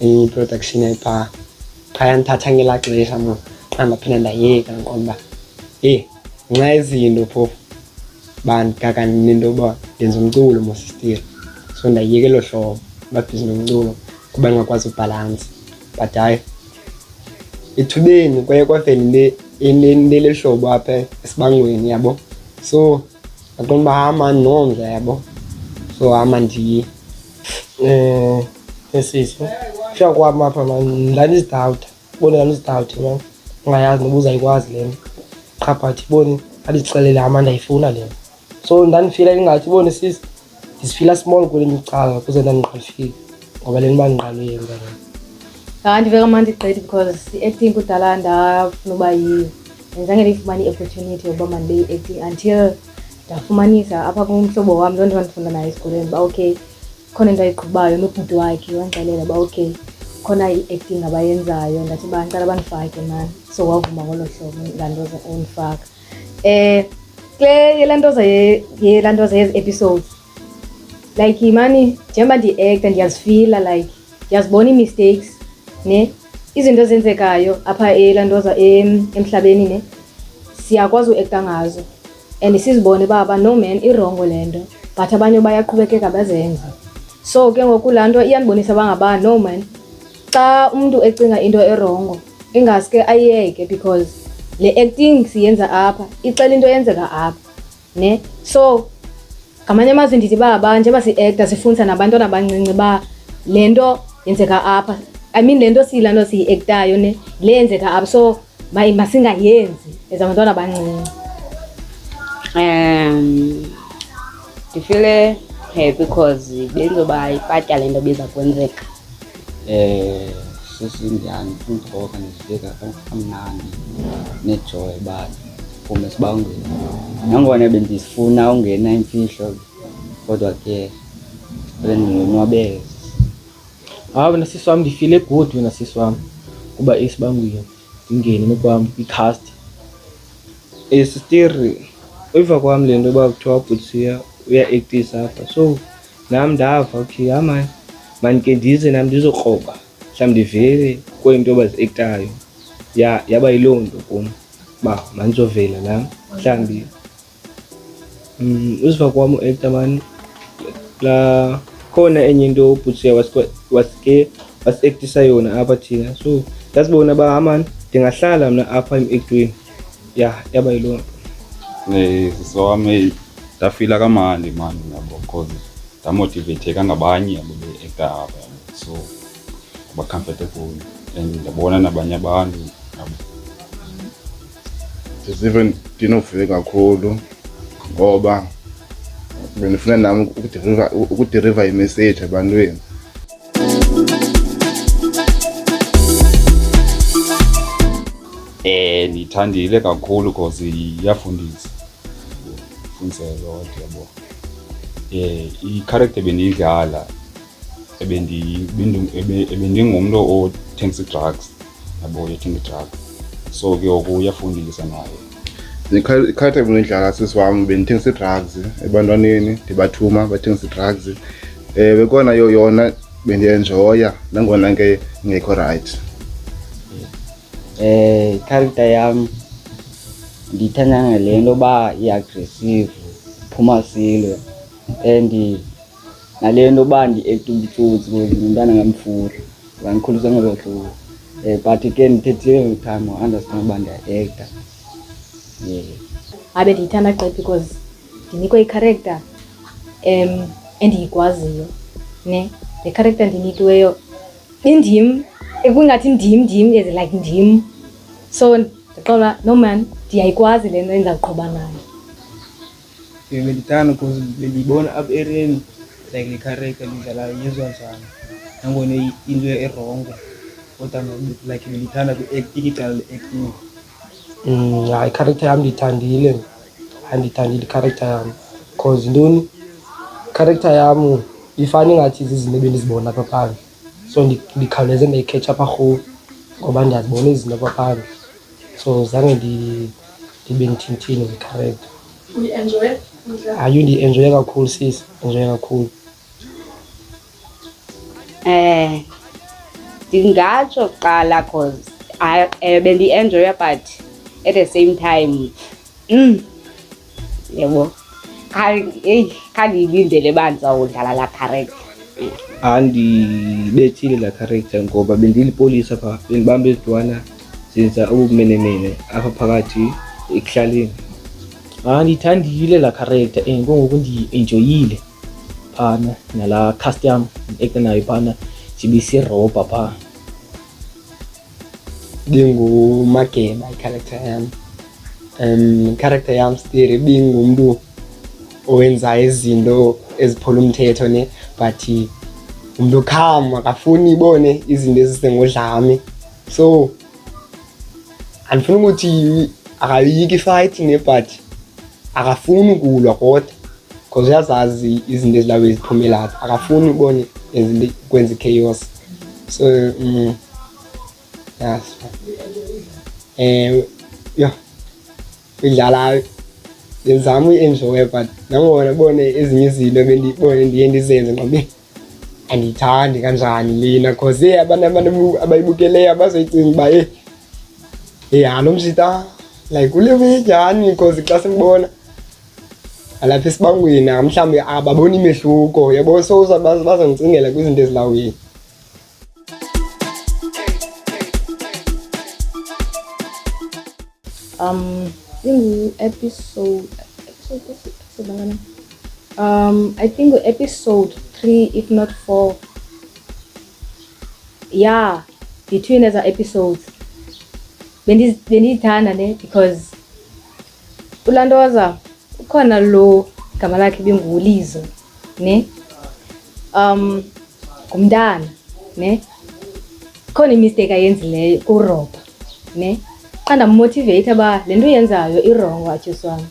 i-production ayipha phaya ndithatha ngela xesha mna xa ndaphinde ndayeka ndiqonda uba eyi nxa izinto phofu uba ndikakani nento yoba ndenza umculo mosistile so ndayiyeka elo hlobo babhizi nomculo kuba ndingakwazi ubhalansi but hayi ethubeni kwaye kwavela into elihlobo apha esibangweni yabo so ndaqonda uba hama ndinomdla yabo so hama ndiye um esisi kufika kwam apha ma ndandizidawuda boni ndandizidawude ma ungayazi noba uzayikwazi le nto qha but boni andixelele ama ndayifuna le nto so ndandifila ingathi boni sisi ndizifila small kule micala kuze ndandinqalifile ngoba le nto uba ndinqalwe yenza le hayi ndive kamandi igqithi because i-acting kudala ndafuna uba yiyo ndizange ndiyifumane i-opportunity yokuba mandibe yi-acting until ndafumanisa apha kumhlobo wam loo nto bandifunda naye esikolweni uba okay khona into ayiqhubayo nobhuti wakhe wandixelela uba okay khona i-acting abayenzayo ndathi uba ndicela bandifake mani so wavuma ngolo hlobo laa nto undifaka um kule yelaa ntoza yelaa ntoza yezi episodes like mani njengoba ndiyi-acta ndiyazifila like ndiyazibona ii-mistakes ne izinto ezenzekayo apha elantoza emhlabeni ne siyakwazi uekta ngazo and sizibone uba aba no man irongo le nto but abanye bayaqhubekeka bazenze so ke ngoku laa nto iyandibonisa uba ngaba no man xa umntu ecinga into erongo ingaske ayeke because le acting siyenza apha ixela into eyenzeka apha ne so ngamanye amazwi ndithi uba ba njengoba si-ekta sifundisa nabantwana abancinci uba le nto yenzeka apha i mean le nto siyila nto siyi-ektayo ne le yenzeka apha so masingayenzi as abantwana abancinci um ndifile happy because benzoba ipatya le nto biza kwenzeka Eh sisi ndiyandifuna ugoka ndizibeka kamnandi nejoy uba ndiphume esibangweni. Nangona bendifuna ungena imfihlo kodwa ke bendingonwabele. Hayi wena sisi wam ndifile good wena sisi wam kuba esibangweni ndingene nokwam kwi-cast. Eh sistiri uyiva kwam le nto uba kuthiwa ubhuti siya uyaektisa apha so nam ndava okay yama mandike ndize nam ndizokroba mhlawumbi ndivele kweli nto baziektayo ya yaba yiloo nto kum uba mandizovela nam mhlawumbi um uziva kwam uekta mani la khona enye into ubhutsiya wasike wasiektisa yona apha thina so ndasibona uba amani ndingahlala mna apha emekntweni ya yaba yiloo nto eh, sisi wam eyi ndafila kamandi mani yabo because ndamotivatheka ngabanye yabo be-ekapa so ba-comfortable and ndabona nabanye abantu yabo ndizive ndinovuye kakhulu ngoba bendifuna nam ukudiriva imessage ebantwini Eh, ndiyithandile kakhulu because iyafundisa fundisa lot yabo eh i-character bendiyidlala ebendingumntu othengisa i-drugs yabo yethi ngidala so ke oku uyafundisa nayo ndikhathe kunidlala sisi wam bendithengisa ii-drugs ebantwaneni ndibathuma bathengisa ii-drugs um eh, bekona yo yona bendiyenjoya nangona ke ngekho rayithi um eh, ikharikta yam ndiyithanda ngale nto yoba i-agressive phuma silwe and nale nto uba ndi-ekta ubutsotsi ngumntana ngamfura wandikhulisa ngolo hlobo um but ke ndithethile every time wa-understand uba ndiya-ekta um abe ndiyithanda gqiphi because ndinikwe icharecter um endiyikwaziyo ne le charecter ndinikiweyo indim kungathi ndim ndim is like ndim so ndiqola no man ndiyayikwazi le nto endizawuqhuba nayo Bebelithanda because belibona apha ereni like likhareka lidlala yizwa njani nangona into erongo kodwa like belithanda kwi-acting icala le-acting mm, hayi ikharacter yam ndiyithandile andiyithandile ikharacter yam because ntoni ikharacter yam ifana ingathi zizinto ebendizibona apha phandle so ndikhawuleze ndayikhetsha apha rhulu ngoba ndiyazibona izinto kwaphandle so zange ndibe ndithintini ndikharenta ayo ndienjoye kakhulu sis enjoye kakhulu um ndingatsho kuqala cause eh, bendienjoya but at the same time mm. yebo eyi khandiyilindele uba ndizawudlala laa character andibethile laa character ngoba bendilipolisa pha bendibamba ezidwana zenza ubumenemene apha phakathi ekuhlaleni hayi ndiyithandile laa character and kungoku ndiyi-enjoyile phana nalaa cast yam ndiekte nayo phana ndibe sirobha phaa Bingu make by character yam um character yam stiri Bingu mntu owenza izinto eziphula umthetho ne but umntu kham akafuni ibone izinto ezisengodlame so andifuni ukuthi akayiki ifayithi ne but akafuni ukulwa kodwa because uyazazi izinto ezilawezi ziphumelazi akafuni ubone kwenza i-chaos So, mm, yes. Eh, yo. Idlala ngizama uyi-enjoya but nangona bone ezinye izinto ebendibone ndiye ndizenze ngoba andiyithandi kanjani lena cause e abantu abayibukeleyo abazoyicinga uba e e halo mshita like ulewe njani cause xa simbona alapha esibangweni mhlawumbi ababona imehluko yabo so bazondicingela kwizinto ezilawini um ingu-episode um i think ngu-episode three if not four yeah between eza episodes bendizithanda ne because Kulaa nto waza ukhona lo gama lakhe ibingulizo ne um ngumntana ne khona imisteyiki ayenzileyo kurobha ne xa ndammotiveyitha uba le nto uyenzayo irongo atyusi wam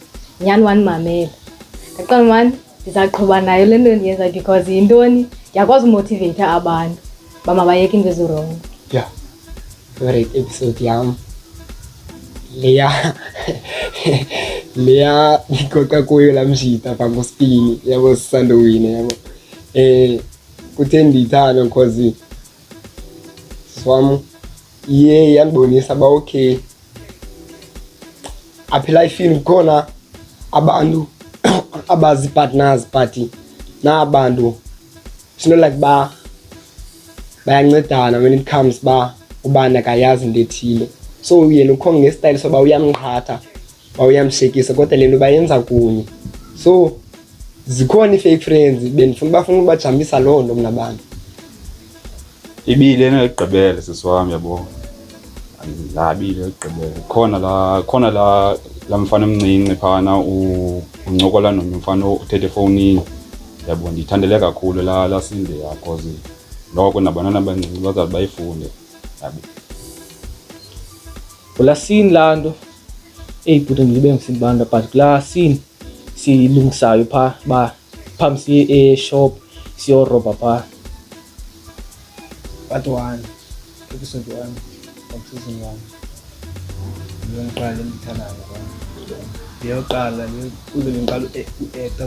nyhani wandimamela ndaqala mani ndizaqhuba nayo le nto ndiyenzayo because yintoni ndiyakwazi umotiveyitha abantu bamabayeka into ezirongo ya favorite episode yam leya leya ndikoqa kuyo laa mshita phaa ngospini yabo sisandowine yabo um kuthe ndiyithanda because wam iye yandibonisa uba okay apha elifini kukhona abantu abazi-partners but nabantu It's not like ba bayancedana when it comes ba ubani akayazi into ethile so yena ukhonga ngesitayile soba uyamqhatha ba uyamshekisa kodwa le nto bayenza kunye so zikhona ii-fake friends bendifuna bafuna ubajambisa loo nto mna bantu ibile enegqibele sisi wam yabona andinabile ekugqibele khona la khona la la mfana omncinci phana uncokola nomnye umfana uthethe efowunini yabo ndiyithandele kakhulu la lasinde yakoze noko nabantwana abancinci bazawuthi bayifunde yabo kulasini laa nto eyi bhuti ndilibe ngisindibanda but kulaa sini siyilungisayo phaa uba phambi siye eshop siyorobha phaa Part 1, episode 1, of season 1. Yile ngiqala endithandayo kwam. Ndiyoqala kuze ndiqala u-ekta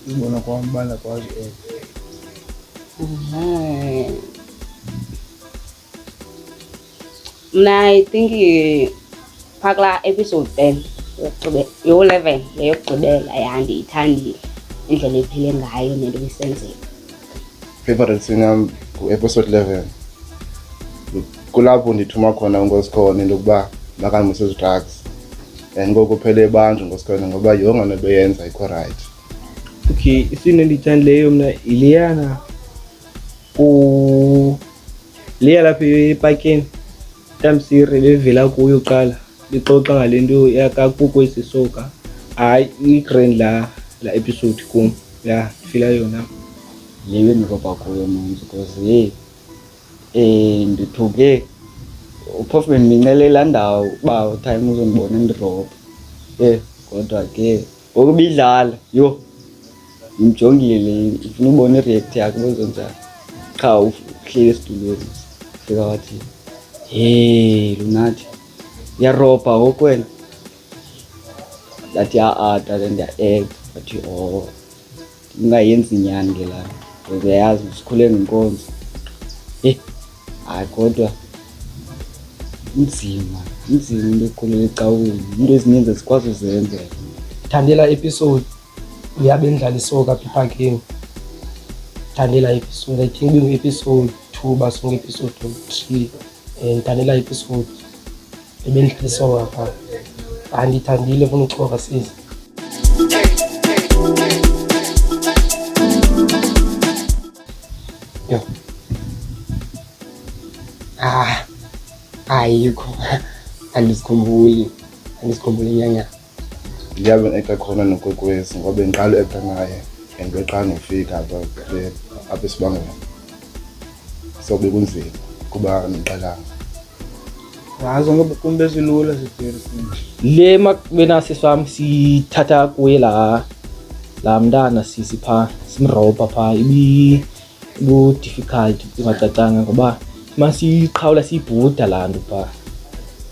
kuzibona kwam uba ndakwazi u-ekta. Uhum. Mna I think phaa kulaa episode ten yo-eleven yeyokugqibela yandiyithandile indlela ephile ngayo nento ebisenzeka favorite scene yam ngu-episode eleven kulapho ndithuma khona unkosikhona into yokuba makandimise ezi-drugs and ngoku phele ebanjwa ngosikhona ngoba yonke nto beyenza ikho rayithi okay isini endiyithandileyo mna yileyana liya lapho ipakini tamsiri bevela kuyo uqala lixoxa ngale nto yakakukwesi soka hayi i-grand la la episode kum ya ndifila yona leyo ndiroba kuyo manje because ye um eh, ndithuke uphofu bendincelela ndawo uba time uzondibona ndirobha ye kodwa ke Ngoku bidlala yho ndimjongile ndifuna ubona ireact yakhe bozonjani qha uhleli esitulweni fika wathi he lunathi uyarobha ngoku wena ndathi a-ada le ndiya-act wathi o oh. ndingayenzi nyani ke laa because uyayazi sikhule ngenkonzo eyi hayi kodwa inzima inzima into ekhulela ecaweni into ezininzi ezikwazi uzenzela thandela episode uyabe ndlala isoka phiphakheni thandela episode i think ibingu-episode two basonge episode three and thandela episode ebendihlisonga phaa andithandile funa uxoka sizi yho ah ayikho andizikhumbuli andizikhumbuli nyanya ndiyabe ekta khona nokwekwezi ngoba bendiqala uekta naye and weqala nofika apha esibangela so bekunzima kuba ndiqalanga ngazo kum bezilula le makubenasi swam sithatha kuye laa laa mntana sisi phaa simrobha phaa ibu-difficult ingacacanga ngoba masiyiqhawula siyibhuda laa nto phaa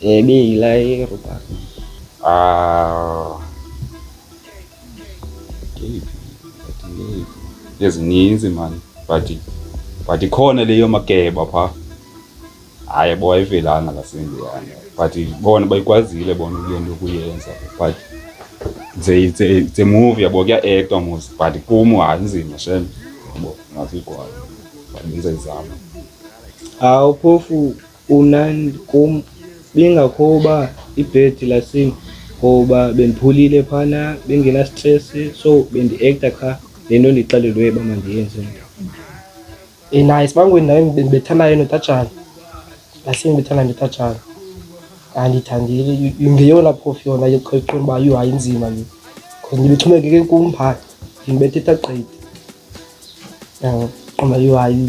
Để bị lấy rồi bạn À ezininzi mani but but ikhona leyo makeba phaa hayi bo ayivelanga lasendiyana but bona bayikwazile bona kule nto kuyenza but it's a movie yabo kuya-actwa mos but kum hayi nzima shem yabo ngafikwayo but benza izama awuphofu Kunandi kum bingakho uba ibhedi lasini ngoba bendiphulile phana bengenastresi so bendiekta qha le nto ndixelelwe uba mandiyenze mntu Ina isibangweni naye bendibethana yena utatshana lasini bethana ndotatshana andiyithandile ngeyona phofu yona yoqhaqhona uba yho hayi inzima le because ndibexhomekeke kum phaa ndibethetha gqidi qonda yho hayi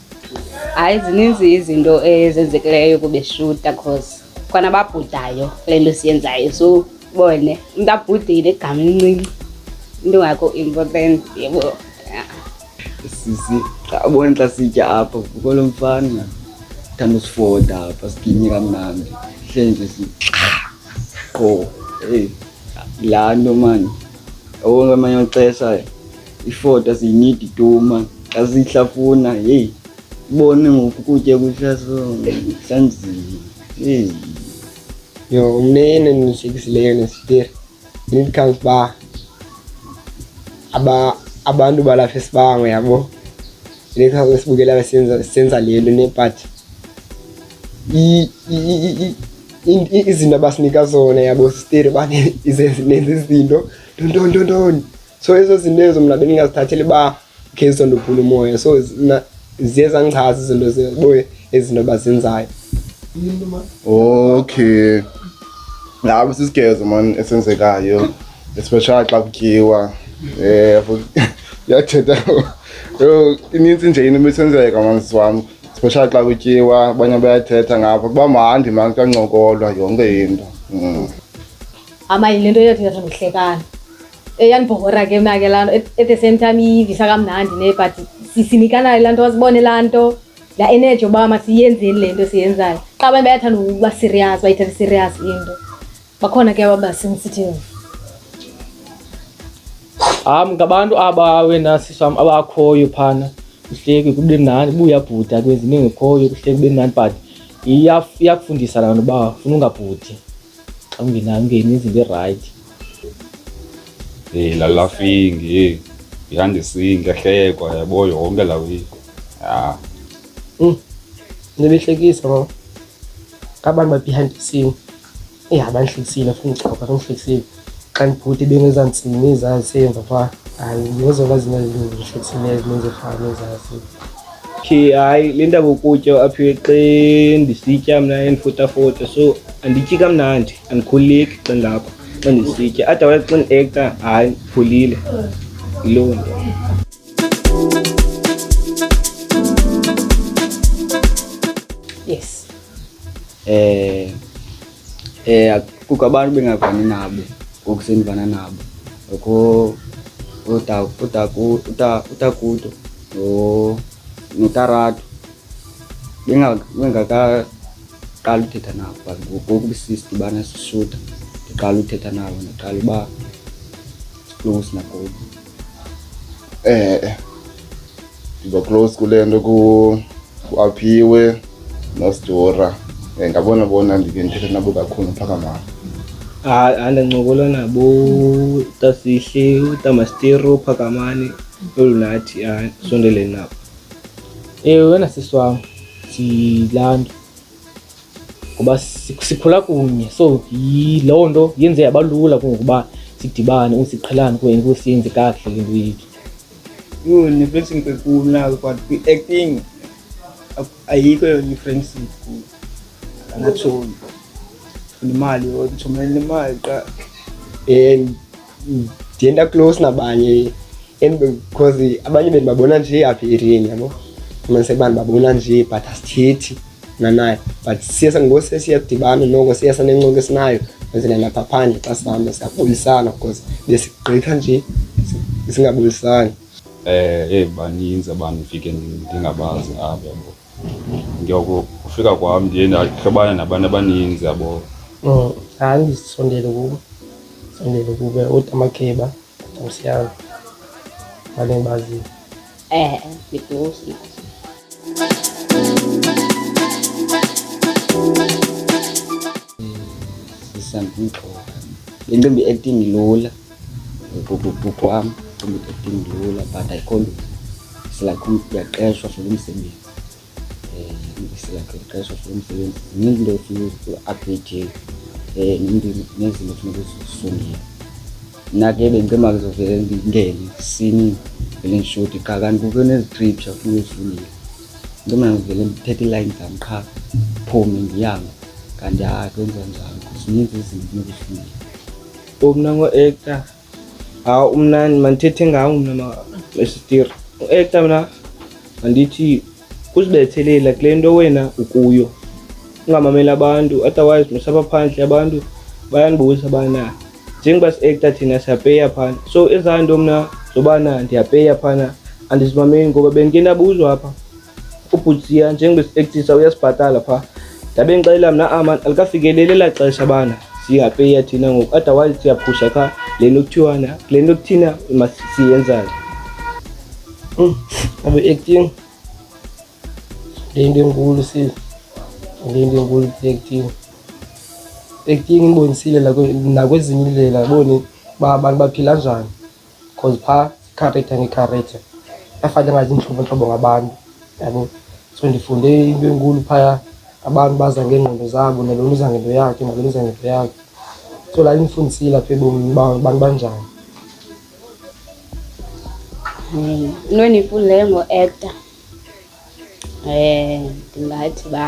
hayi zininzi izinto ezenzekileyo kubeshuta cause khona babhudayo kule nto siyenzayo so bone umntu abhudile igama elincinci into ngakho important yebo sisi xa ubona xa sitya apha kukolo mfana thanda usifoda apha siginye kamnandi hleli nje si qho eyi laa nto mani okungamanye amaxesha iifota ziyinidi tuma xa zihlafuna heyi bone ngoku kutya kuhlaso sanzima heyi yo umnene ndinihlekisileyo nesiteri when it comes uba aba abantu balapha esibango yabo lexaso esibukela besenza senza le nto nebhathi izinto abasinika zona yabo siteri bane izenza izinto ntontontontoni so ezo zinto ezo mna bendingazithatheli uba ngezo ndubhula umoya so ziye zandichaza izinto zeboye ezinto bazenzayo okay ngabo sisigezo mani esenzekayo especially xa kutyiwa um yathetha yho inintsi nje into ibisenzeka manzi wam especially xa kutyiwa abanye bayathetha ngapha kuba mandi mani kancokolwa yonke into mm. amayi le nto yothi yathi ndihlekana yandibhora ke mna ke laa nto at- at the same time iyivisa kamnandi ne but si- sinikanayo laa nto wasibone laa nto laa energy yoba masiyenzeni le nto siyenzayo qha abantu bayathanda ukuba serious bayithatha serious into bakhona ke ababa sensitive Am ngabantu aba wena sisam abakhoyo phana kuhleki kube mnandi buya bhuda kwenza into engekhoyo kuhleki kube mnandi but iya- iyakufundisa laa nto uba funa ungabhudi xa ungenayo ungeni izinto erayithi Eh la laughing eh ihande singe hlekwa yabo yonke la wi. Ah. Mm. Nibihlekisa mama. Abantu ba behind the scene. Eh abanhlekisile futhi ngixoxa abanhlekisile. Xa ngibhuti bengezantsini izazi emva kwa. Hayi ngizokwazi ngezinto ezihlekisileyo ezinye ezifana nezazi. okay hayi le ndaba ukutya apho xe ndisitya mna endifotafota so andityi kamnandi andikhululeki xa ndilapha xa ndisitya otherwise xa ndiekta hayi ndiphulile yiloo nto yes um Eh, kukho abantu bengavani nabo ngoku sendivana nabo ngokho utakuto notaratu bengakaqali uthetha nabo but ngoku bisisi ndibana sisuda ndiqala uthetha nabo ndiqala uba silungisi nakubo eh, eh. ndiba close kule nto kuaphiwe nosidora um eh, ngabona bona ndike ndithetha nabo kakhulu mphakamama hayi andincokola nabo utasihle utamastero uphakamane olunathi hayi sondeleni nabo ewe wena sisi wam silanto ngoba sikhula kunye so yiloo nto yenze yabalula kungokuba sidibane usiqhelane kwenye kusiyenze kakuhle le nto yethu yho nefrensini kwenkulu nayo but kwi-acting ayikho yona ifrensini kulu angatholi funa imali yodwa uthomelela imali qa and mm. ndiye ndaclose nabanye and because abanye bendibabona nje apha erini yabo fumanise uba ndibabona nje but asithethi nanaye but siye sangose siyadibana noko siye sanencoka esinayo kwenzela lapha phandle xa sihamba siyabulisana because besigqitha nje singabulisani um eh, eyi baninzi abantu ndifike ndingabazi apha yabo ndiyakufika kwam ndiye ndahlobana nabantu abaninzi yabo mm, hayi ndisondele kubo sondele kube utamakheba nomsiyalo bale ndibaziyo eh, eh ndidusi sisandumgxoka le ntombi acting lula kwam ndilula but i can't silakho ndiyaqeshwa for umsebenzi um silakho ndiyaqeshwa for umsebenzi zininzi into efuna uapdate um nezinto efuna ukuzifundela mna ke bendicema kuzovele ndingene sini vele ndishoti qha kanti kukho nezitripsha funa uzifundela into mna ndivele ndithethe iilayini zam qha phume ndihambe kanti hayi kwenza njalo zininzi izinto funa ukuzifundela Umna ngo-ekta. Hawu umna mandithethe ngawo mna masitiri. U-ekta mna mandithi uzibethelela kule nto wena ukuyo ungamameli abantu otherwise musaba phandle abantu bayandibuza bana njengoba si-ekta thina siyapeya phana so ezaa nto mna zobana ndiyapeya phana andizimameli ngoba bendike ndabuzwa apha ubhutsiya njengoba sipektisa uyasibhatala phaa ndabe ndixelela mna aman alikafikeleli elaa xesha bana siyapeya thina ngoku otherwise siyaphusha qha le nto kuthiwana le nto kuthina masiyenzane hmm, abe acting le nto enkulu sile le nto enkulu acting acting ibonisile nakwezinye indlela boni uba abantu baphila njani because phaa ikhareyitha ngekhareyitha yafana ngaziintlobontlobo ngabantu yabo so ndifunde into enkulu phaya abantu baza ngeengqondo zabo nalona uza ngento yakhe nalona uza ngento yakhe so laa indifundisile apha ebomini uba abantu banjani into endiyifundileyo ngo-actor um ndingathi uba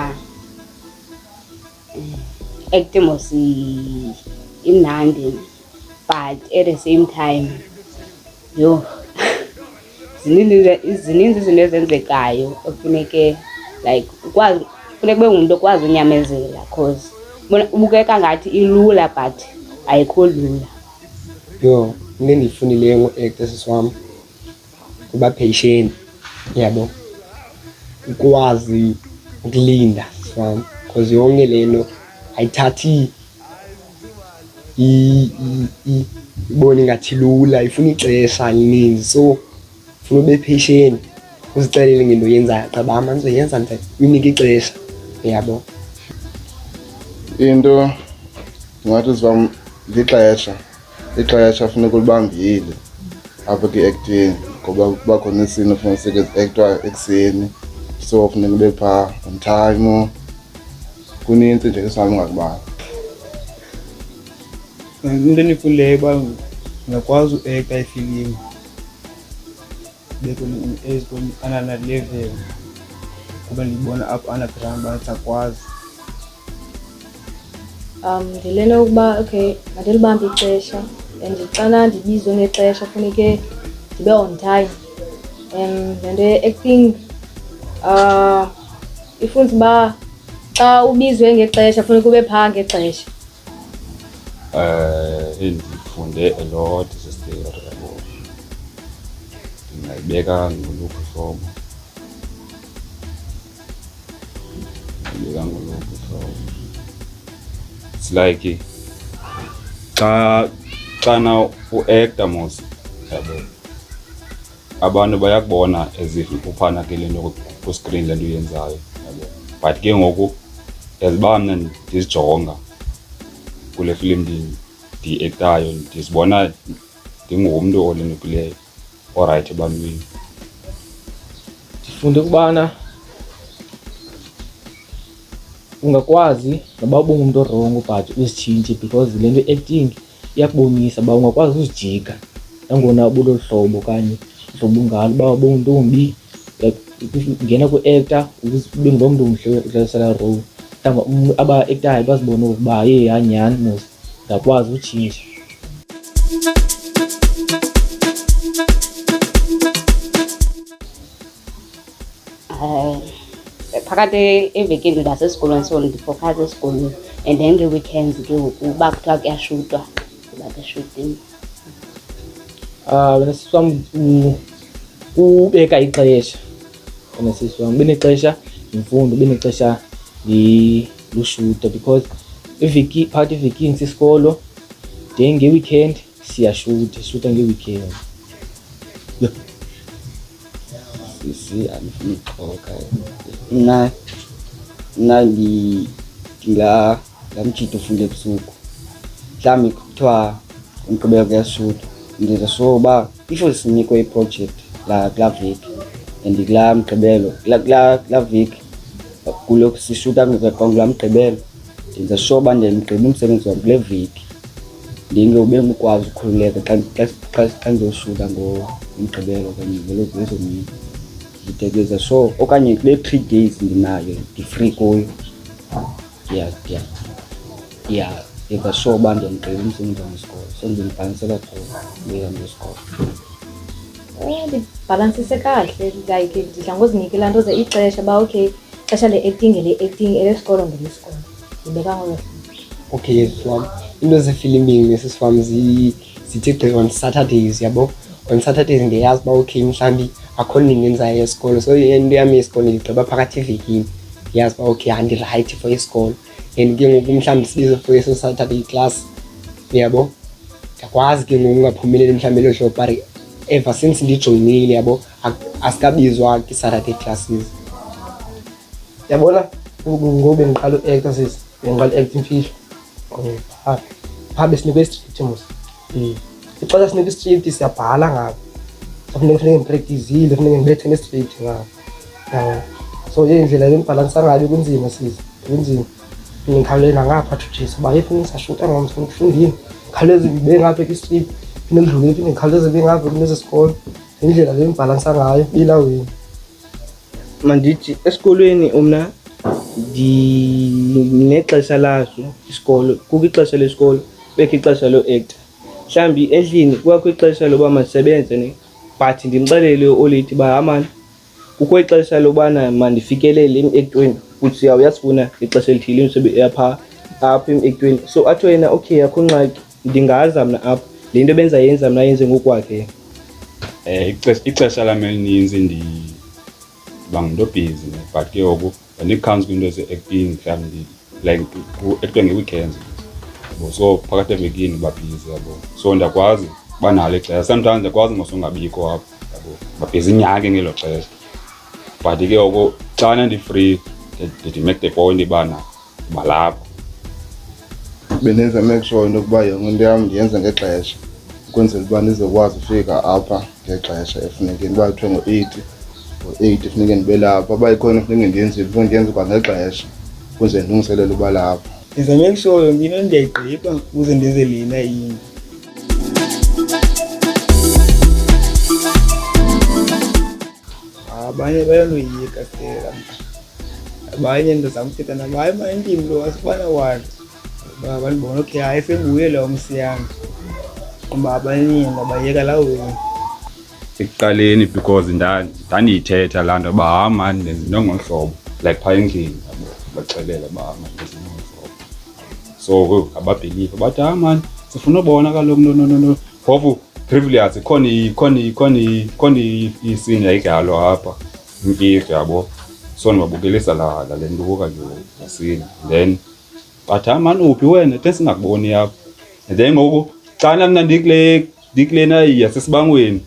Acting was imnandi but at the same time yho zininzi zininzi izinto ezenzekayo ekufuneke like ukwazi funeka ube ngumntu okwazi unyamezela cause ubukeka ngathi ilula but ayikho lula yho into endiyifunileyo ngo-actor sisi wam kuba patient yabo ukwazi ukulinda sifam because yonke le nto ayithathi ibone ingathi lula ifuna ixesha elininzi so funa ube patient uzixelele ngento yenzayo qaba amanzi yenza nje uyinike ixesha yabo into ngathi sivam lixesha ixesha funeka ulibambile apha kwi-acting ngoba kuba khona isini funeka sike zi-ektwa ekuseni so funeka ube phaa on time kunintsi nje esihambi ngakubala into endifundileyo uba ngingakwazi uekta ifilimu be kwenye age kwenye ana na level kuba ndibona apho ana ground bangasakwazi um ndilena ukuba okay mandilibambe ixesha and xana ndibizwe ngexesha funeke ndibe on time um le nto ye-acting um ifunza uba xa ubizwe ngexesha funeka ube phaa ngexesha Eh, endifunde a lot is theory yabo ndingayibeka ngoluphi hlobo ndingayibeka ngoluphi hlobo it's like xa xana uacta mos yabo Abantu bayakubona as if uphana ke le nto kwiskrini le nto uyenzayo but ke ngoku as uba mna ndizijonga kule filimu ndiyiektayo ndizibona ndingumntu olenukileyo orayithi ebantwini ndifunde ukubana ungakwazi noba ubungumntu orongo but uzitshintshe because le nto i-acting Iyakubonisa uba ungakwazi uzijika nangona ubulolu hlobo okanye uhlobo ungalo uba ubuntombi ungena kwi-ekta ube ngulo mntu mhle udlalisela role mhlawumbi aba-ektayo bazibone ukuba ye yanyhani mos ndakwazi utshintsha um phakathi evekini ndibasesikolweni so ndifokhaza esikolweni and then nge-weekends ke ngoku uba kuthiwa kuyashutwa ndiba keshutini um sisi wam ubeka ixesha wena sisi wam benexesha yimfundo benexesha lushute because iviki phakathi evikini sisikolo then nge-weekend siyashuta sishuta nge-weekend Sisi amefika na na li la la mchito funde busuku mhlawumbi kuthiwa umgqibelo kuyasuta ndiza so uba ifo sinikwe iproject la kula veki and kula mgqibelo kula veki kulo sishuta ngekwangu la mgqibelo Ndenza sure uba ndiyamgqiba umsebenzi wam kule veki ndinge ube ngukwazi ukhululeka xa ndizosuka ngomgqibelo okanye ngolozomini nditekeza so okanye kule three days ndinayo ndi-free kuyo ya ndiva sure uba ndiyamgqiba umsebenzi wangesikolo so ndimfanisela kuyo ndihambe isikolo Eh, ndibhalansise kahle like ndidla ngozinikela nto ze ixesha uba okay ixesha le-acting ele-acting elesikolo ngelesikolo ndibeka ngolo okay yes wam into zefilimini nesis wam zithi gqi on saturdays yabo on saturdays ndiyayazi uba okay mhlawumbi akho nini ndenzayo yesikolo so into yam yesikolo ndigqiba phakathi evekini ndiyazi uba okay andirayithi for isikolo and ke ngoku mhlawumbi sibizo for eso saturday class yabo ndiyakwazi ke ngoku ungaphumeleli mhlawumbi elo hlobo but ever since ndijoyinile yabo asikabizwa kwi-saturday classes yabona ngoku bendiqala u-acta sisi bendiqala u-acta imfihlo phaa phaa besinikwe istriti mos mm. ixesha sinikwe istriti siyabhala ngabo funeke funeke ndipractizile funeke ndibethe nestriti ngabo yabo so indlela yokubhalansa ngayo kunzima siza kunzima ngikhawulele nangapha to jesu uba yephi ngisashuta ngomso ngifundile ngikhawuleze ngibe ngapha kwi-street phinde ngidlule phinde ngikhawuleze ngibe ngapha kulezi sikolo indlela le ngibhalansa ngayo ilaweni mandithi esikolweni umna ndinexesha laso isikolo kukho ixesha lesikolo bekho ixesha lo-actor mhlawumbi endlini kwakho ixesha loba masebenze ne but ndimxelele oleti uba hamani kukho ixesha lobana mandifikelele emekweni kuthi yaw uyasifuna ixesha elithile imsebenzi yapha apha emekweni so athiwe yena okay akho ngxaki ndingaza mna apha le nto benza yenza mna yenze ngokwakhe um ixesha lam elininzi ndiba ngumntu obhizi but ke ngoku Andikhans kwinto eze-acting mhlawumbi like ku-actwa nge-weekends yabo so phakathi evekini babhizi yabo so ndiyakwazi uba nalo ixesha sometimes ndiyakwazi ngosongabikho apho yabo babhizi inyake ngelo xesha but ke oko xana ndi-free ndithi make the point ibana balapho bendenza make sure into yokuba yonke into yam ndiyenze ngexesha ukwenzela uba ndizokwazi ufika apha ngexesha efuneke uba kuthiwe ngo-eight ngo-eight funeke ndibe lapho uba ikhona funeke ndiyenzile funeke ndiyenze kwangexesha ukuze ndilungiselele uba lapho ndiza make sure yonke into ndiyayigqiba ukuze ndenze lena into abanye bayaloyika sela abanye ndizamthetha nabo hayi ma endimi lo wasifana wani uba abantu bona okay hayi senguyela umsiyami uba abaningi ndabayeka laweni ekuqaleni because ndandiyithetha laa nto uba ha mani ndingolu hlobo like phaa endlini baxelela uba mani ndingolu hlobo so ababhiliva bathi ha mani sifuna ubona kaloku nononono phofu privilege khona khona khona khona isini yayidlalo apha imfihlo yabo so ndibabukelisa la le ntuka nje nesini then but hayi mani uphi wena ke singakuboni yakho and then ngoku xana mna ndikule ndikulena yasesibangweni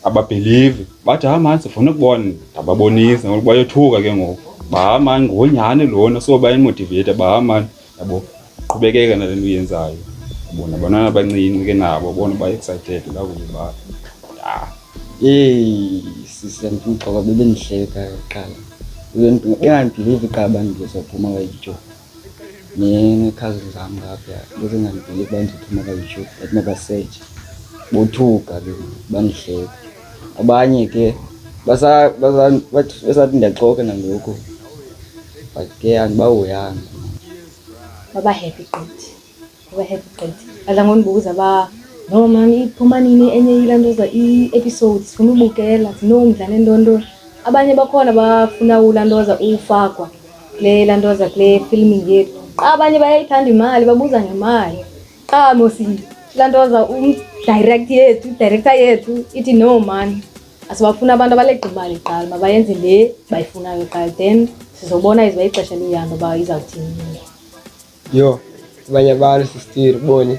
ababhelivi bathi hayi mani sifuna ukubona ndababonisa ngoku bayothuka ke ngoku baha mani ngonyhani lona so bayimotiveyitha baha mani yabo qhubekeka nale nto uyenzayo bona abantwana abancinci ke nabo bona ba-excited lakuba ya Eyi sisi andimxoka bebendihleka kuqala bengandibhilivi qala uba ndizophuma kwayityhophu nekhazini zam ngapha bezingandibhilivi uba ndizophuma kwayityhophu but mabasetshe bothuka ke bandihleka abanye ke basathi ndiyaxoka nangoku but ke andibahoyanga babahappy gqithi Ngoba happy gqithi. Adla ngondibuza uba no mani iphuma nini enye yila nto za i-episode sifuna ubukela sinomdla nentonto. Abanye bakhona bafuna ula nto za ufakwa kule laa nto za kule filming yethu. Qha abanye bayayithanda imali babuza ngemali. Qha mos laa nto za umdirect yethu idirector yethu ithi no mani asibafuni abantu abaleqa imali kuqala mabayenze le bayifunayo kuqala then sizobona izoba ixesha liyihamba uba izawuthini. yo banye bani sistiri boni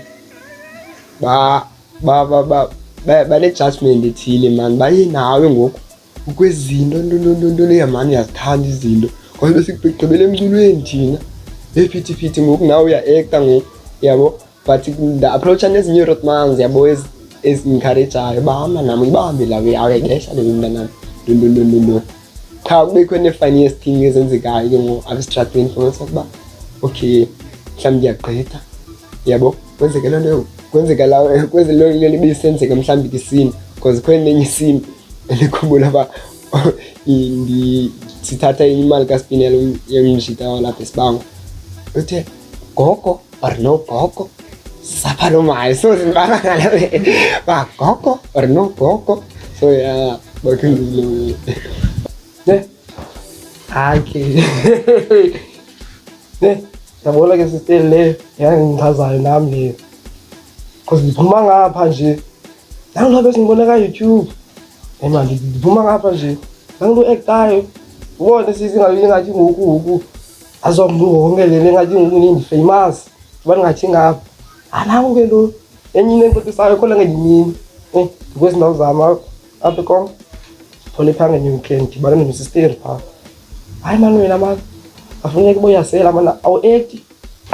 ba ba ba ba banejudgment ethile mani baye nawe ngoku ukwezinto ntontontontoni yamani uyazithanda izinto ngoba besigqibele emculweni thina ephithiphithi ngoku nawe uya-ekta ngoku yabo but nda-approacha nezinye irotmans yabo ezincourajayo bahamba nam ibambe lawe awuyayidesha leyo mntanam ntontontontonton qha kubekho nee-funniest thing ezenzekayo ke ngoku apha esitratweni fumanisa ukuba okay mhlawumbi ndiyagqitha yabo kwenzeke loo nto kwenzeka la kwezi loo nto libe isenzeka mhlawumbi kisini because khona nenye isini elikhumbula uba sithatha imali kaspinelo yomjita walapha esibango uthe Gogo or no gogo? Sapa no maayos. So, parang alam eh. Ba, gogo or no gogo? So, yeah. Bakit yung Ne? Aki. Ne? Nabola kasi still le. Yan, ngazal nam le. Cause diphuma ngapha nje. Nangilobe singibona ka YouTube. Hey man, diphuma ngapha nje. Nangilu actayo. Ubone sisi ngalingathi ngoku ngoku. azo mduo ongele lenga jingu ni famous banga chinga hapa ana ongelo enyi nento tisayo kola ngi ni eh kwesi ndo zama ape kom tole panga ni weekend bana ni sister pa ai manu wena ma afunya kiboya sela mana au eti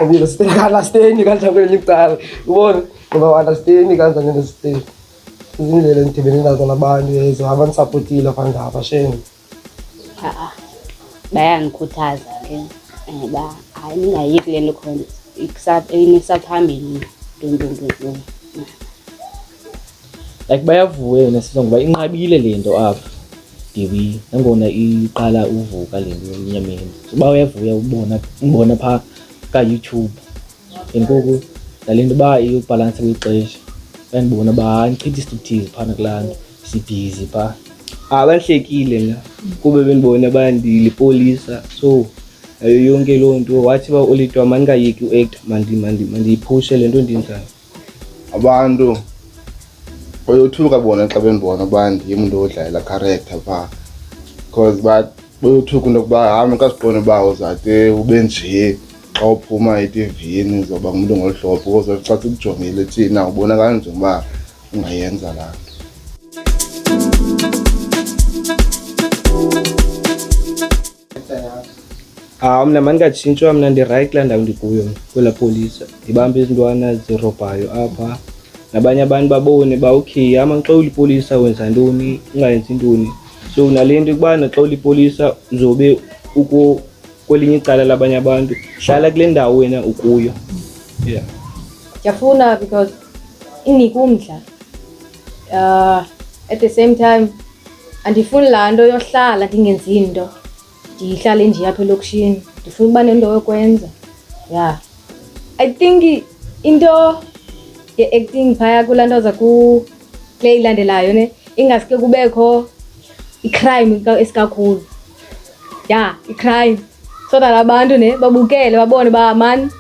obilo sister kala steni kala ngeli tala ubona ngoba wala steni kala ngeli steni izindlela endidibene nazo nabantu ezo abandisaphotile phandapha shame Ha-a. Bayangikhuthaza ke. Eh ba hayi ningayiki le nto khona. Ikusaphambili. Dun dun dun dun. like bayavuya yona sisongo uba inqabile le nto apha ndibi nangona iqala uvuka le nto emnyameni so uba uyavuya ubona umbona phaa kayoutube ngenkuku ndale nto uba iyobhalansa kwixesha ndandibona uba hayi ndichitha isithukthizi phana kulaa nto sibhizi phaa abahlekile la kube bendibona bandilipolisa so ayo yonke loo nto wathi uba olitwa mandingayeki uact mandiyiphushe le nto ndinjani abantu bayothuka bona xa bendibona uba ndim nto odlalela character phaa because but bayothuka into yokuba hamba kasiqonde uba uzade ube njee xa uphuma etivini uzoba ngumntu ngolu hlobo because xa sikujongile thina ubonakala njengoba ungayenza laa nto Ah mna mandingatshintshwa mna ndirayithi kulaa ndawo ndikuyo kwela polisa ndibambe izintwana zirobhayo apha nabanye abantu babone uba okay ama xa ulipolisa wenza ntoni ungayenzi ntoni so nale nto ukubana xa ulipolisa uzobe uko kwelinye icala labanye abantu hlala kule ndawo wena ukuyo yeah ndiyafuna because inike umdla uh, at the same time andifuni laa nto yohlala ndingenzi nto ndihlale nje apha elokishini ndifuna uba nento yokwenza ya i think into ye-acting phaya kulaa nto za kule ilandelayo ne ingaske kubekho icrime esikakhulu ya i-crime so that abantu ne babukele babone uba mani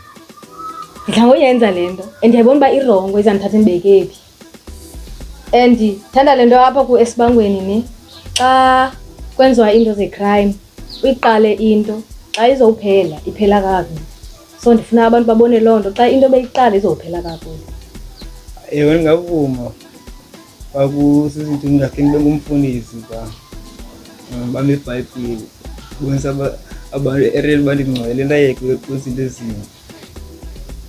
ndidla ngoyenza le nto and ndiyayibona uba irongo izandithatha ndibeke phi and thanda le nto apha kuesibangweni ne xa kwenziwa iinto ze-crime uyiqale into xa izowuphela iphela kakubi so ndifuna abantu babone loo nto xa into beyiqala izophela kakubi ewe ndingavuma kwakusizintini ndakhe ndibe ngumfundisi ba bambe ibhayibhile bonisa abantu ereli bandingcwele ndayeke kwizinto ezinto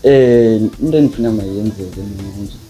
um into endifuna mayenzeke mna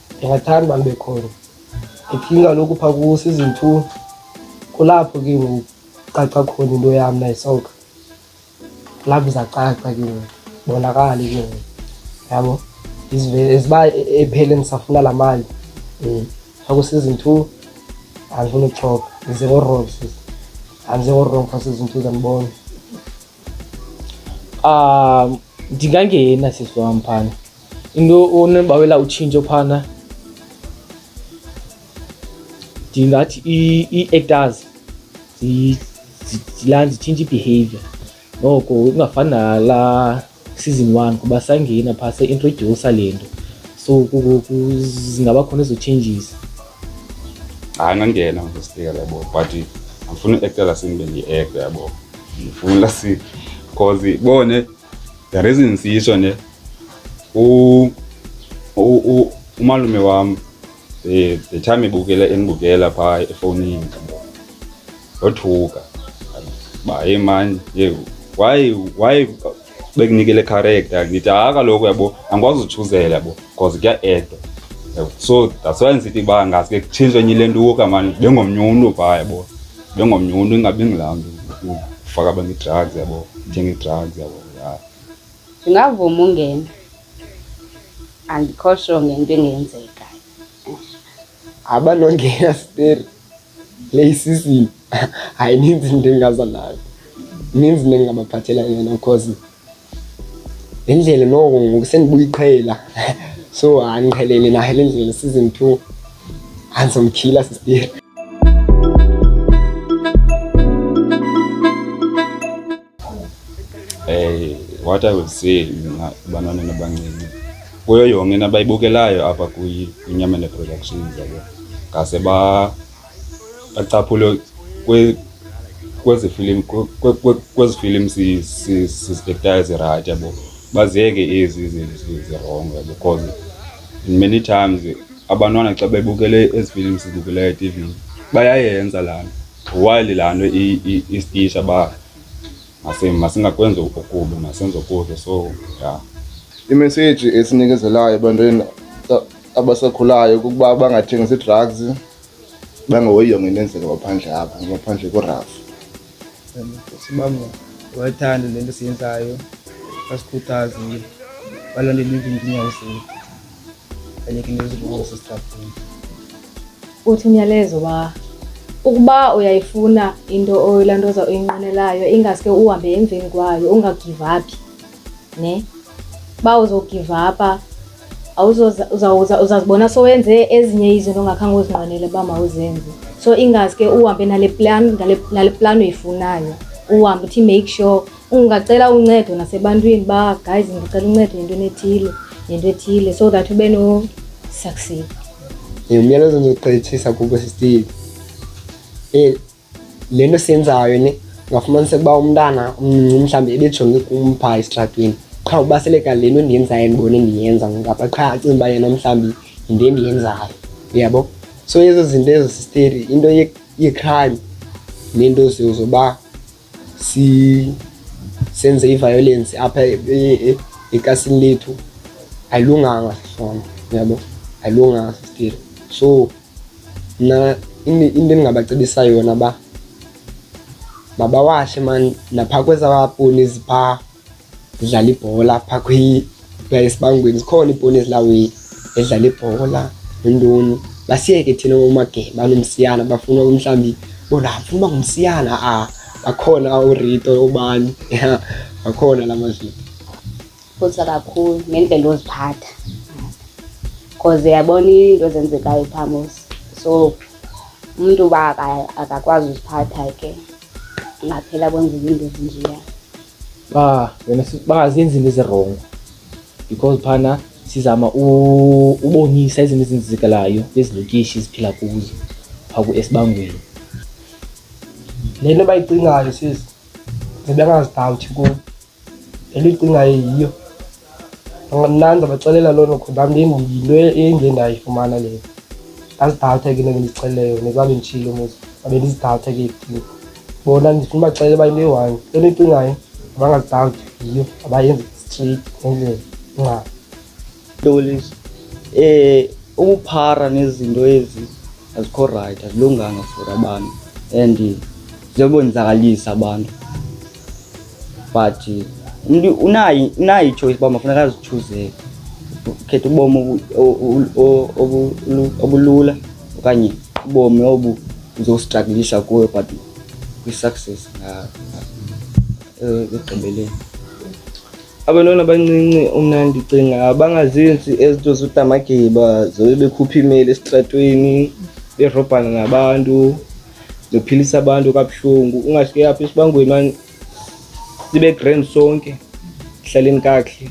ndingathanda uba ndibe khona iphini kaloku phaa kuwo season two kulapho ke ngoku caca khona into yam nayisoka kulapho izacaca ke ngoku bonakale ke ngoku yabo izivele ziba ephele ndisafuna laa mali um phaa kuseason two andifuna ukuxhoka ndize ngorong sis andize ngorong phaa season two zandibona um ndingangena sisi wam phana into onembawela utshintsho phana ndingathi ii-actors zilani zitshintsha i-behavior noko kungafani nalaa season one kuba sangena phaa seintrodyusa le nto so zingaba khona ezo changes hayi nangena ndosibeka labo but andifuni uektela sindibe ndiyiekte yabo ndifuna si because bone the reason siyitsho ne u u umalume wam eh, the time ebukela endibukela phaa efowunini ndothuka uba hey mani ye why why bekunikele character ndithi hayi kaloku yabo angikwazi uthuzela bo because kuya-edwa so that's why ndisithi uba ngaske kutshintshwe enye le ntuka mani bengomnye umntu phaa yabo bengomnye umntu ingabi ngilaa mntu ufaka abantu i-drugs yabo ndithenga i-drugs yabo ndingavuma ungena andikho sho ngento engenzeka abanongena steri le isisini hayi ninzi into engaza nayo ninzi into endingabaphathela yona because le ndlela noko ngoku sendibuyiqhela so andiqhelele nayo le ndlela season two andizomkhila sisteri Eh, what I would say mna banane nabancinci kuyo yonke into abayibukelayo apha kwinyamene productions yabo ngase ba bacaphule kwezi film kwezi film sizidektayo zirayithi yabo baziyeke ezi zirongo yabo because many times abantwana xa bebukele ezi film sizibukelayo etivini bayayenza laa nto While laa nto istisha uba masingakwenzi okubi masenze okuhle so ya imeseji esinikezelayo ebantwini abasakhulayo kukuba bangathengisi ii-drugs bangahoyi yonke into enzeka ngaphandle apha ngaphandle korafu sibami wayithanda le nto siyenzayo basikhuthaze balondela iinkinkinyawo zethu uthi umyalezo wa ukuba uyayifuna into oyilantoza uyinqwenelayo ingaske uhambe emveni kwayo ungagivaphi ne uba uzogivapha uzazibona sowenze ezinye izinto ongakhange uzinqwenele uba mawuzenze so ingaske uhambe nale plan nale plan uyifunayo uhambe uthi make sure Ungacela uncedo nasebantwini ba guys, ndicela uncedo ngento enethile nento ethile so that ube no succeed. Ngiyumyalezo ndizogqithisa kubo sisile. Eh le nto siyenzayo ne ungafumanisa ukuba umntana umncinci mhlawumbi ebejonge kum phaa esitratweni qha ubaseleka le nto ndiyenzayo ndibone ndiyenza ngapha qha acinga uba yena mhlawumbi yinto endiyenzayo uyabo so ezo zinto ezo sisteri into yecrime nento zoba si senze i-violence apha e, e, e, eklasini lethu ayilunganga sona yabo ayilunganga still so mna into endingabacebisa yona uba mabawahle mani naphaa kwezaponi ziphaa ndidlala ibhola apha kwiplaya esibangweni zikhona iibhoni ezilawini edlala ibhola nentoni basiyeke thina omageba banomsiyana bafuna mhlawumbi bona funa ngumsiyana a ah, bakhona urito obani bakhona la mazulu futhi kakhulu ngendlela oziphatha because yabona into ezenzekayo phamosi so umuntu uba akakwazi uziphatha ke ngaphela kwenza izinto ezinjeya ba wena bangazenzi into ezirongo because phana sizama ubonisa izinto ezenzekalayo ezilokishi ziphila kuzo phaku esibangweni le nto bayicingayo sisi zibengazidawuthi kubo endiyicingayo yiyo mna ndizabaxelela loo nto kodwa yinto endiye ndayifumana leyo ndazidawutha ke into endindixeleleyo nekuba benditshile umuzi babe ndizidawutha ke ekutini bona ndifuna ubaxelela uba into eyi-one into endiyicingayo abangazidawuthi yiyo abayenzi straight ngendlela ingxaba Yolisa. Eh ukuphara nezinto ezi azikho right, azilunganga for abantu and ziyobonzakalisa abantu. But umuntu unayo unayo ichoice uba mafuneka azichuzeke. Ukhetha ubomi obulula okanye ubomi obu uzostruglisha kuyo but kwi-success ekugqibeleni. abantwana abancinci umna ndicinga bangazenzi ezinto zodamagiba zobe bekhupha imeli esitratweni berobhana nabantu zophilisa abantu kabuhlungu ungasuke apha esibangweni mani sibe grand sonke hlaleni kakuhle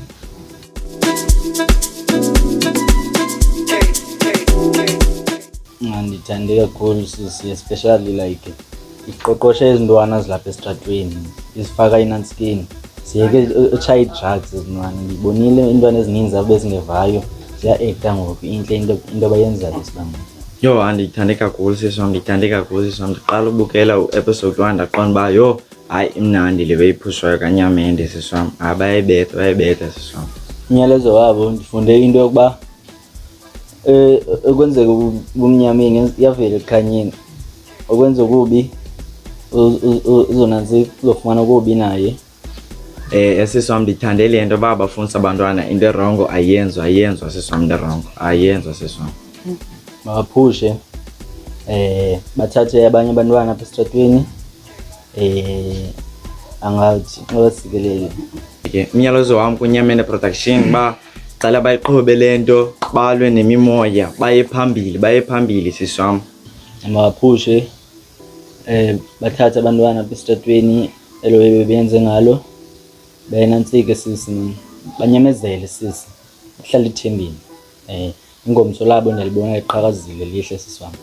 ndithande kakhulu sisi especially like iqoqoshe izintwana zilapha esitratweni izifaka inantskin siyeke utshaye ii-drugs ezintwana ndibonile iintwana ezininzi abe zingevayo ziya-ekta ngoku intle into abayenzayo sibanga yho andiyithande kakhulu sisi wam ndiyithande kakhulu sisi wam ndiqala ubukela u-episode one ndaqonda uba yho hayi imnandi le beyiphushwayo kanyamende sisi wam hayi bayayibetha bayayibetha sisi wam umyalezo wabo ndifunde into yokuba eh okwenzeka kumnyameni yavela ekhanyeni okwenza okubi uzonanzi uzofumana okubi naye eh esisi wam ndithande le nto uba bafundisa abantwana into erongo ayenzo ayenzo sisi wam into erongo ayenzo sisi wam mabaphushe um eh, bathathe abanye abantwana apha esitratweni um eh, angathi nxabasikelele ke umyalezo wam kunyamene production uba Cela bayiqhobe le nto balwe nemimoya baye phambili baye phambili sisi wam. Mabaphushe um bathathe abantwana apha esitratweni elo ebe benze ngalo bayenantsike sisi banyamezele sisi uhlala ethembeni um Ingomso labo ndalibona liqhakazile lihle sisi wam.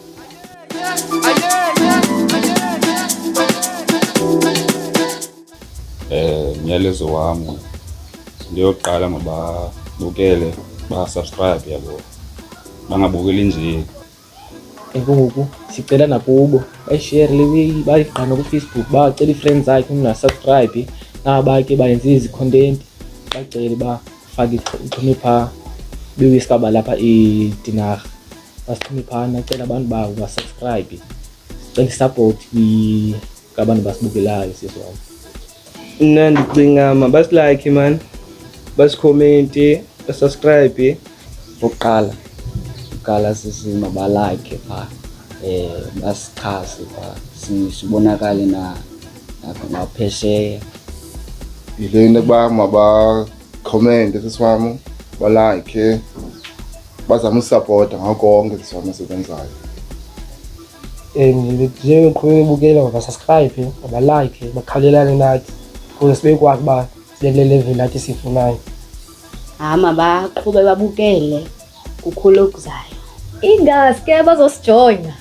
Eh, myalezo wam ndiyoqala mababukele basubscribe yabo bangabukeli nje enkungoku sicela nakubo bayishere le bayigqana kufacebook bacela ii-friends zakhe umntu asubscribe naba ke bayenze izi-content bacele uba fake ixhume phaa bewisikaba lapha idinarha basixhume phaa nacela abantu babo basubscribe cela isupport ngabantu basibukelayo sisi wam mna ndicinga mabasilike mani basikhomenti basubscribe okokuqala okokuqala sisi mabalike phaa um basichase phaa sibonakale na apha naphesheya yile into yokuba mabakhomende sisiwam balakhe bazame usapota ngako konke sisiwam esikwenzayo and njengeqhubeka bukela mabasubscribe mabalike bakhawulelane nathi kuze sibe kwazi uba sibe kule level nathi sifunayo hayi mabaqhube babukele kukhulu okuzayo ingaske bazosijoyina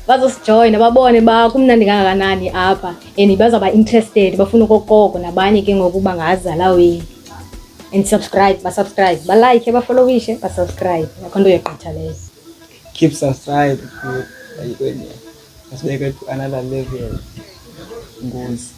bazosijoyina babone uba kumnandi kangakanani apha and bazawuba interested bafuna okokoko nabanye ke ngokuba ngazala wenu and subscribe basubscribe balike bafolowishe basubscribe akho nto yogqitha leyo keep subscribe asibeke to another level ngozi